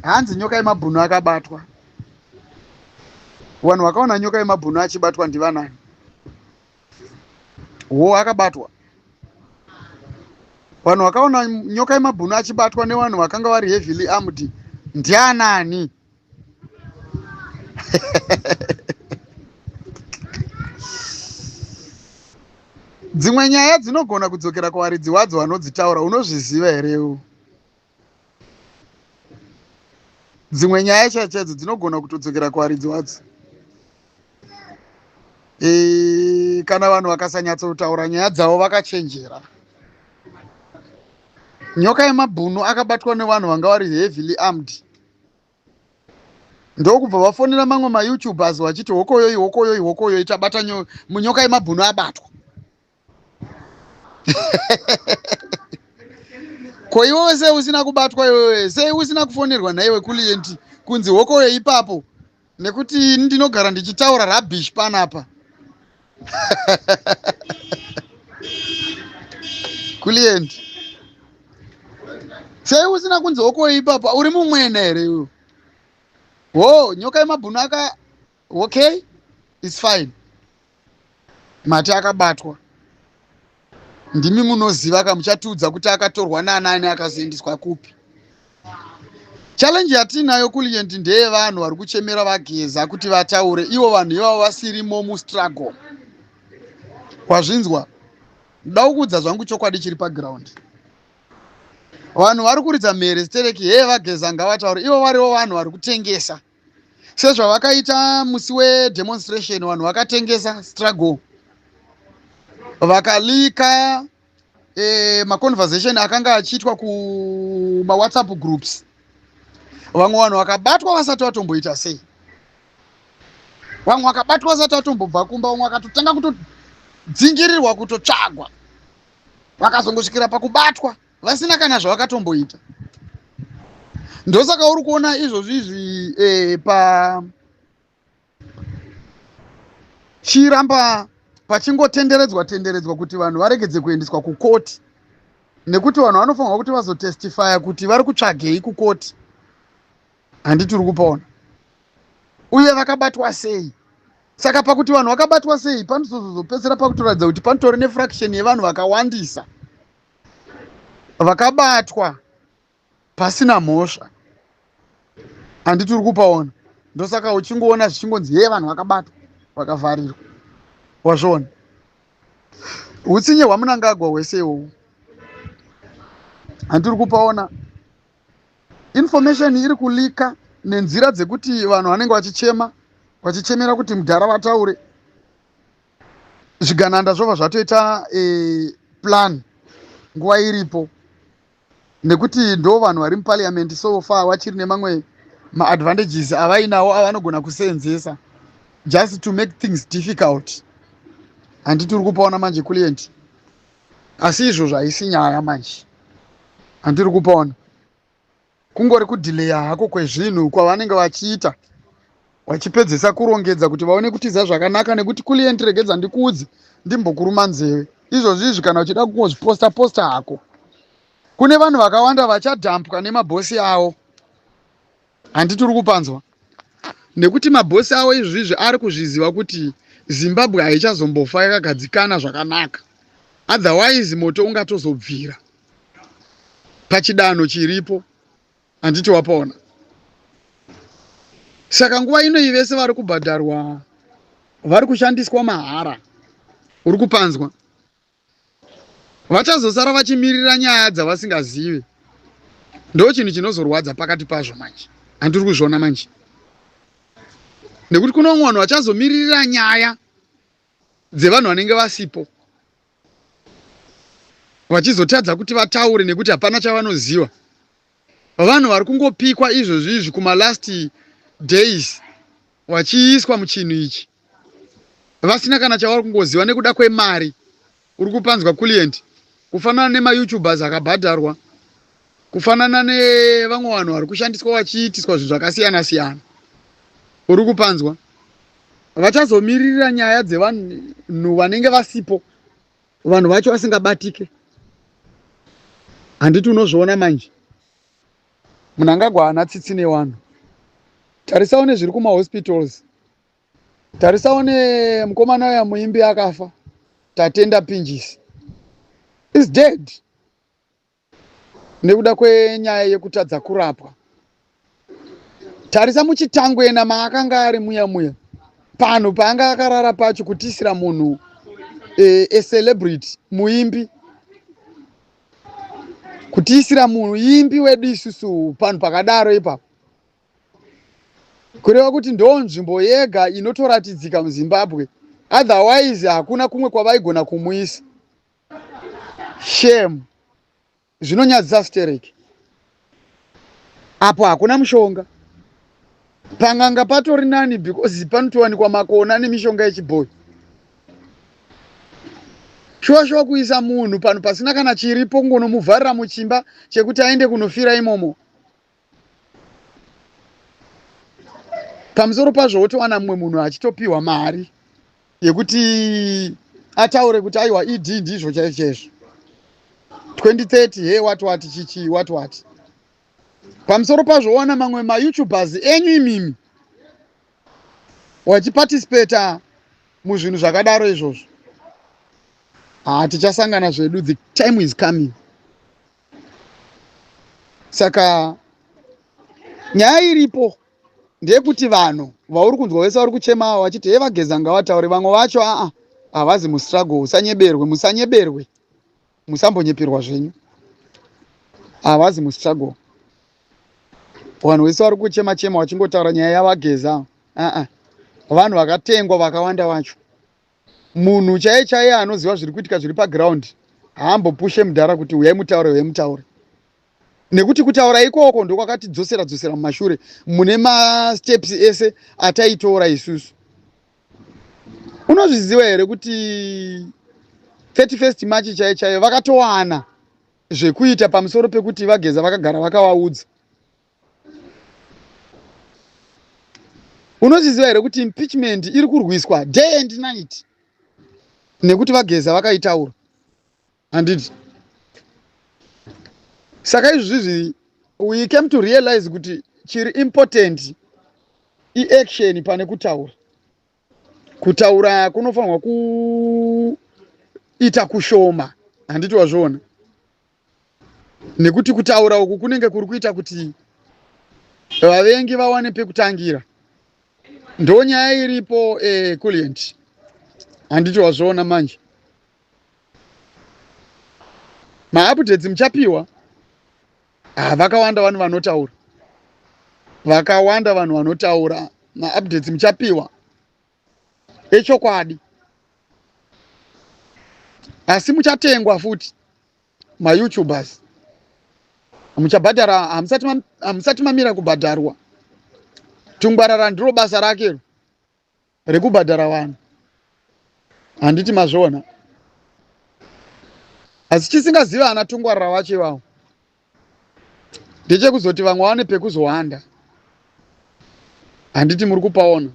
hanzi nyoka yemabhunu akabatwa vanhu vakaona nyoka yemabhunu achibatwa ndivanani wo akabatwa vanhu vakaona nyoka yemabhunu achibatwa nevanhu vakanga vari heavily armed ndianani dzimwe nyaya dzinogona kudzokera kuvaridzi wadzo vanodzitaura unozviziva here u dzimwe nyaya chaidzo chaidzo dzinogona kutodzokera kuvaridzi wadzo e, kana vanhu vakasanyatsotaura nyaya dzavo vakachenjera nyoka yemabhunu akabatwa nevanhu vanga vari heavily armed ndokubva vafonera mamwe mayoutubers vachiti hokoyoi hokoyoi hokoyoi tabata munyoka yemabhunu abatwa ko iwewe sei usina kubatwa iwewe sei usina kufonerwa nhaiwe kulienti kunzi hokoyo ipapo nekuti ndinogara ndichitaura rabish panapa kulienti sei usina kunzi hokoyo ipapo uri mumwena here iwe wo nyoka yemabhunu aka okay its fine mati akabatwa ndimi munoziva ka muchatiudza kuti akatorwa nanani akazoendeswa kupi challenge yatiinayo kulient ndeye vanhu vari kuchemera vageza kuti vataure ivo vanhu ivavo vasirimo mustruggle wazvinzwa ndoda kukuudza zvangu chokwadi chiri paground vanhu vari kuridza mhere stereki hee vageza ngavataure ivo varivo vanhu vari kutengesa sezvavakaita musi wedemonstration vanhu vakatengesa struggle vakalika eh, maconversation akanga achiitwa kumawhatsapp groups vamwe vanhu vakabatwa vasati vatomboita sei vamwe vakabatwa vasati vatombobva kumba vamwe vakatotanga kutodzingirirwa kutotsvagwa vakazongosvikira pakubatwa vasina kana zvavakatomboita ndosaka uri kuona izvozvi izvi eh, pa chiramba pachingotenderedzwa tenderedzwa kuti vanhu varegedze kuendeswa kukoti nekuti vanhu vanofanirwa kuti vazotestifya kuti vari kutsvagei kukoti handiti uri kupaona uye vakabatwa sei saka pakuti vanhu vakabatwa sei panozozopedzisira pakutoratidza kuti panotori nefraction yevanhu vakawandisa vakabatwa pasina mhosva handiti uri kupaona ndosaka uchingoona zvichingonzi hee vanhu vakabatwa vakavharirwa wazviona utsinye hwamunangagwa hwese iwowo handiti uri kupaona information iri kulika nenzira dzekuti vanhu vanenge vachichema vachichemera kuti mudhara vataure zvigananda zvobva zvatoita e, plan nguva iripo nekuti ndo vanhu vari muparliament so far vachiri nemamwe maadvantages avainawo avanogona kuseenzesa just to make things difficult handi tiri kupaona manje client asi izvozvo haisi nyaya manje handiri kupaona Kungori kudhileya hako kwezvinhu kwavanenge vachiita vachipedzesa kurongedza kuti vaone kutiza zvakanaka nekuti client regedza ndikuudze ndimbokuruma nzeve izvozvi izvi kana uchida kungozviposta posta hako kune vanhu vakawanda vachadhampwa nemabhosi avo handi tiri kupanzwa nekuti mabhosi avo izvizvi ari kuzviziva kuti zimbabwe haichazombofa yakagadzikana zvakanaka otherwise moto ungatozobvira pachidanho chiripo handiti wapaona saka nguva inoyi vese vari kubhadharwa vari kushandiswa mahara uri kupanzwa vachazosara vachimirira nyaya dzavasingazivi ndo chinhu chinozorwadza pakati pazvo manje handiri kuzviona manje nekuti kune vamwe vanhu vachazomiririra nyaya dzevanhu vanenge vasipo vachizotadza kuti vataure nekuti hapana chavanoziva vanhu vari kungopikwa izvozvi izvi kumalast days vachiiswa muchinhu ichi vasina kana chavari kungoziva nekuda kwemari uri kupanzwa client kufanana nemayoutubers akabhadharwa Kufanana nevamwe vanhu vari kushandiswa vachiitiswa zvinhu zvakasiyana siyana, uri kupanzwa, vachazomiririra nyaya dzevanhu vanenge vasipo, vanhu vacho vasingabatike. Handiti unozviona manje? Mnangagwa haana tsitsi nevanhu. Tarisawo nezviri kumahospitals. Tarisawo nemukomana uya muimbi akafa, Tatenda Pinjisi. Is dead. nekuda kwenyaya yekutadza kurapwa. Tarisa muchitangwena maakanga ari muya muya panhu paanga akarara pacho kutiisira munhu eh, a celebrity muimbi kutiisira munhu imbi wedu isusu panhu pakadaro ipapo kureva kuti ndo nzvimbo yega inotoratidzika muzimbabwe otherwise hakuna kumwe kwavaigona kumuisa Shame. Zvinonyadzisa stereki. Apo hakuna mushonga. Panganga patori nani because panotowanikwa makona nemishonga yechibhoyi. Shuwa shuwa kuisa munhu panhu pasina kana chiripo kungonomuvharira muchimba chekuti aende kunofira imomo. pamusoro pazvo wotowana mumwe munhu achitopiwa mari yekuti ataure kuti aiwa ed ndizvo chaizvo chaizvo 2030 he wati wati chichii wati wati pamusoro pazvo wowana mamwe mayoutubers enyu imimi wachipatisipeta muzvinhu zvakadaro izvozvo hatichasangana zvedu the time is coming saka nyaya iripo ndeyekuti vanhu vauri kunzwa vese vari kuchema ava vachiti hee vageza ngavataure vamwe vacho aa havazi mustruggle usanyeberwe musanyeberwe musambonyeperwa zvenyu havazi mustruggle vanhu vese vari kuchema chema vachingotaura nyaya yavageza aa vanhu vakatengwa vakawanda vacho munhu chaiye chaiye anoziva zviri kuitika zviri paground haambopushe mudhara kuti uyai mutaure uyai mutaure nekuti kutaura ikoko ndokwakatidzosera dzosera mumashure mune masteps ese ataitora isusu unozviziva here kuti 31st march chaiye chaiye vakatowana zvekuita pamusoro pekuti vageza vakagara vakawaudza Unozviziva here kuti impeachment iri kurwiswa day and night nekuti vageza vakaitaura handiti saka izvi zvizvi we came to realize kuti chiri important iaction pane kutaura kutaura kunofanirwa kuita kushoma handiti wazviona nekuti kutaura uku kunenge kuri kuita kuti vavengi vawane pekutangira ndo nyaya iripo eh, kulient handiti wazviona manje maupdates muchapiwa ah, vakawanda vanhu vanotaura vakawanda vanhu vanotaura maupdates muchapiwa echokwadi asi muchatengwa futi mayoutubers muchabhadhara hamusati mamira kubhadharwa tungwarara ndiro basa rake rekubhadhara vanhu handiti mazviona asi chisingaziva ana tungwarara vacho ivavo ndechekuzoti vamwe vane pekuzohanda handiti muri kupaona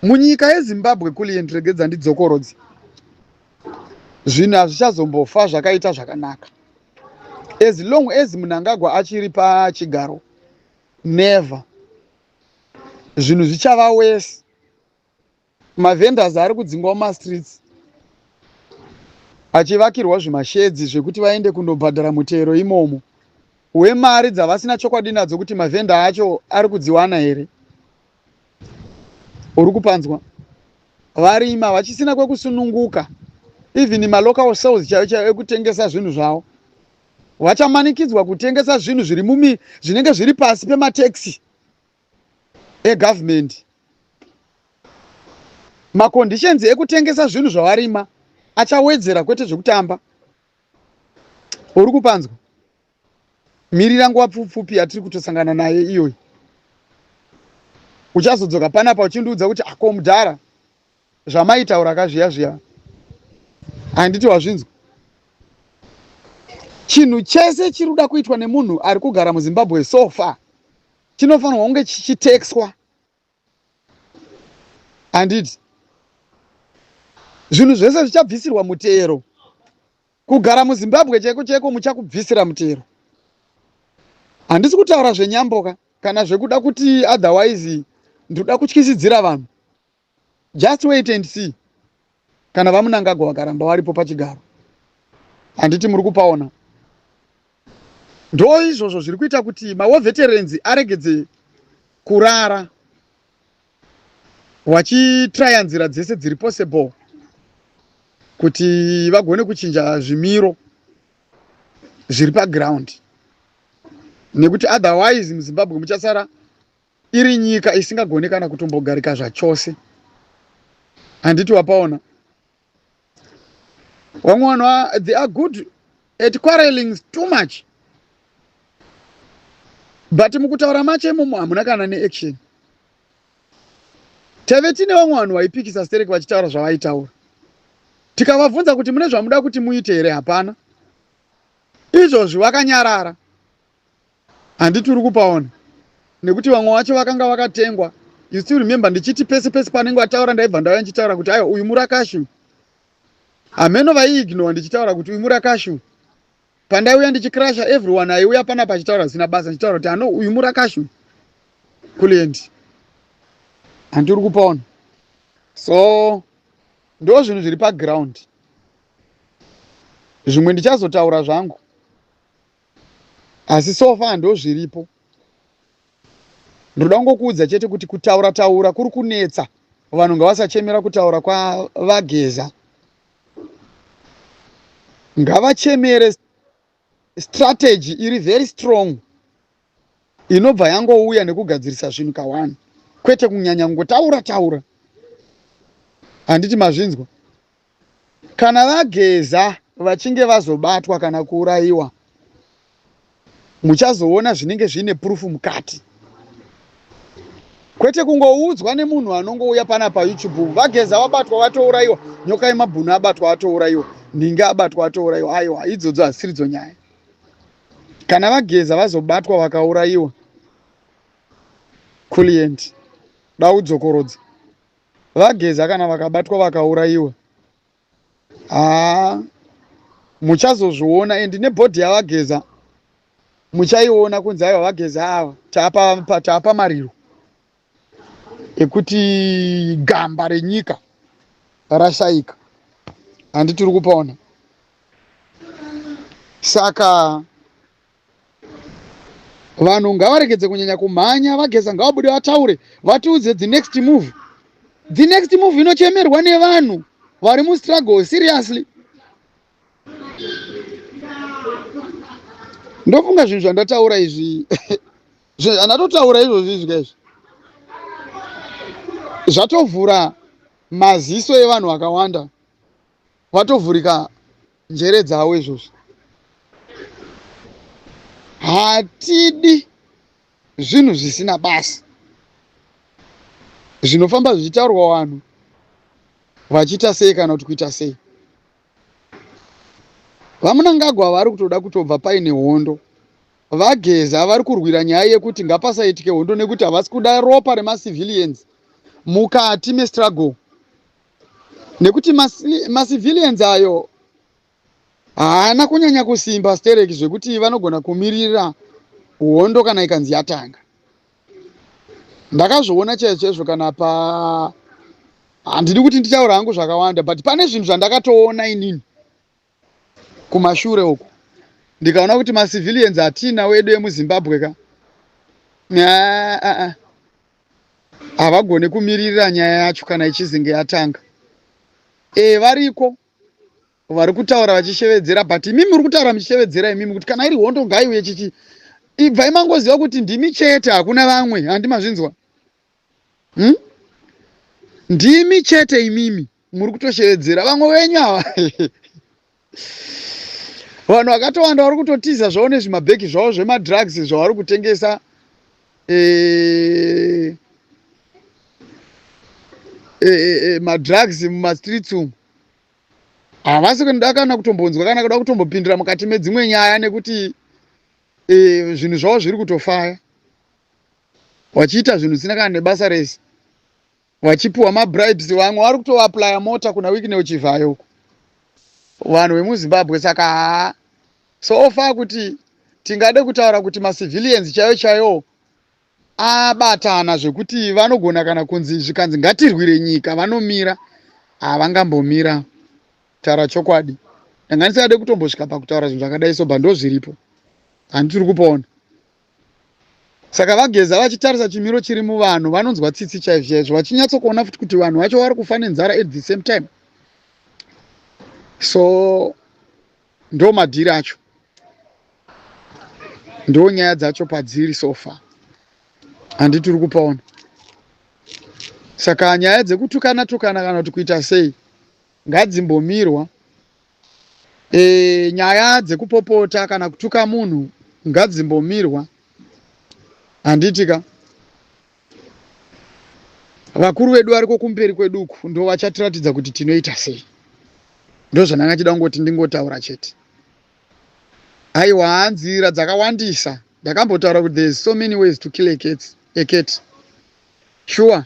munyika yezimbabwe kuli yendiregedza ndidzokorodzi zvinhu hazvichazombofa zvakaita zvakanaka as long as munangagwa achiri pachigaro never zvinhu zvichava wese mavendors ari kudzingwa mumastreets achivakirwa zvimashedzi zvekuti vaende kunobhadhara mutero imomo wemari dzavasina chokwadi nadzo kuti mavhenda acho ari kudziwana here uri kupanzwa varima vachisina kwekusununguka even malocal sales chaiyo chaiyo ekutengesa zvinhu zvavo vachamanikidzwa kutengesa zvinhu zviri mumi zvinenge zviri pasi pemateksi egovernment maconditions ekutengesa zvinhu zvawarima achawedzera kwete zvekutamba uri kupanzwa mirira nguva pfupfupi yatiri kutosangana naye iyoyi uchazodzoka panapa uchindiudza kuti ako ah, mudhara zvamaitaura kazviya zviya handiti wazvinzwa chinhu chese chiri kuda kuitwa nemunhu ari kugara muzimbabwe so far chinofanirwa kunge chichitexwa handiti zvinhu zvese zvichabvisirwa mutero kugara muzimbabwe chaiko chaiko muchakubvisira mutero handisi kutaura zvenyamboka kana zvekuda kuti otherwise ndoda kutyisidzira vanhu Just wait and see kana vamunangagwa vakaramba varipo pachigaro handiti muri kupaona ndo izvozvo zviri kuita kuti mawo veterans aregedze kurara wachitraya nzira dzese dziri possible kuti vagone kuchinja zvimiro zviri paground nekuti otherwise muzimbabwe muchasara iri nyika isingagone kana kutombogarika zvachose handiti wapaona vamwe vanhu they are good at quarreling too much but mukutaura macho imomo hamuna kana neaction tave tine vamwe vanhu vaipikisa stereki vachitaura zvavaitaura tikavabvunza kuti mune zvamuda kuti muite here hapana izvozvi vakanyarara Handiti uri kupaona nekuti vamwe vacho vakanga vakatengwa. You still remember ndichiti pese pese panenge vataura ndaibva ndauya ndichitaura kuti aiwa uyu murakashu. Hameno vaiignore ndichitaura kuti uyu murakashu. Pandaiuya ndichikrasha everyone aiuya pana pachitaura zvisina basa ndichitaura kuti ano uyu murakashu. Kuliendi. Handiti uri kupaona. So ndo zvinhu zviri paground zvimwe ndichazotaura zvangu asi so far ndozviripo ndinoda kungokuudza chete kuti kutaura taura kuri kunetsa vanhu ngavasachemera kutaura kwavageza ngavachemere strategy iri very strong inobva yangouya nekugadzirisa zvinhu kawani kwete kunyanya kungotaura taura handiti mazvinzwa Kana vageza vachinge vazobatwa kana kuurayiwa muchazoona zvinenge zviine proof mukati kwete kungoudzwa nemunhu anongouya pana payoutube vageza vabatwa vatourayiwa nyoka yemabhunu abatwa vatourayiwa nhinga abatwa vatourayiwa aiwa idzodzo hasiridzo nyaya kana vageza vazobatwa vakaurayiwa kulient daudzokorodza Vageza kana vakabatwa vakaurayiwa haa muchazozviona and nebhodhi yavageza muchaiona kunzi aiwa vageza ava taapa taapa mariro ekuti gamba renyika rashaika handi tiri kupona saka Vanhu ngavaregedze kunyanya kumhanya vageza ngavabude vataure vatiudze the next move. The next move inochemerwa nevanhu vari mustruggle seriously. Ndofunga zvinhu zvandataura izvi andatotaura izvozvi izvi kaizvi zvatovhura maziso evanhu vakawanda. vatovhurika njere dzavo izvozvo hatidi zvinhu zvisina basa zvinofamba zvichitaurwa vanhu vachiita sei kana kuti kuita sei vamunangagwa vari kutoda kutobva paine hondo vageza vari kurwira nyaya yekuti ngapasaitike hondo nekuti havasi kuda ropa remacivilians mukati mestruggle nekuti macivilians ayo haana kunyanya kusimba stereki zvekuti vanogona kumirira hondo kana ikanzi yatanga ndakazviona chaizvo chaizvo kana pa handidi kuti nditaura hangu zvakawanda but pane zvinhu zvandakatoona inini kumashure uku ndikaona kuti macivilians hatina wedu emuzimbabwe ka havagone kumiririra nyaya yacho kana ichizinge yatanga e variko vari kutaura vachishevedzera but imimi muri kutaura muchishevedzera imimi kuti kana iri hondo ngaiuye chichi ibvai mangoziva kuti ndimi chete hakuna vamwe handimazvinzwa Umm ndimi chete imimi muri kutoshevedzera vamwe venyu ava vanhu vakatowanda vari kutotiza zvavo nezvimabhegi zvavo zvemadrugs zvavari kutengesa eh, eh, eh, eh madrugs mumastreets umu havasi kunoda kana kutombonzwa kana kuda kutombopindira mukati medzimwe nyaya nekuti eh, zvinhu zvavo zviri kutofaya vachiita zvinhu zvisina kana nebasa rese vachipiwa mabribes vamwe vari kutoaplya mota kuna wikneo chivhayo uko vanhu vemuzimbabwe saka haa so far kuti tingade kutaura kuti macivilians chaiyo chaiyo abatana zvekuti vanogona kana kunzi zvikanzi ngatirwire nyika vanomira havangambomira taura chokwadi ndanga ndisingade kutombosvika pakutaura zvinhu zvakadai so bva ndozviripo handi tiri kupaona Saka VaGeza vachitarisa chimiro chiri muvanhu vanonzwa tsitsi chaizvo chaizvo vachinyatsokuona futi kuti vanhu vacho vari kufa nenzara at the same time. So ndo madhiri acho ndo nyaya dzacho padziri so far handi tiri kupaona. Saka nyaya dzekutukana tukana kana kuti kuita sei ngadzimbomirwa. Eeh nyaya dzekupopota kana kutuka munhu ngadzimbomirwa handiti ka. Vakuru vedu variko kumberi kwedu uku ndovachatiratidza kuti tinoita sei. Ndozvandanga ndichida kungoti ndingotaura chete. Aiwaa nzira dzakawandisa ndakambotaura kuti there is so many ways to kill a cat, a cat. Shuwa.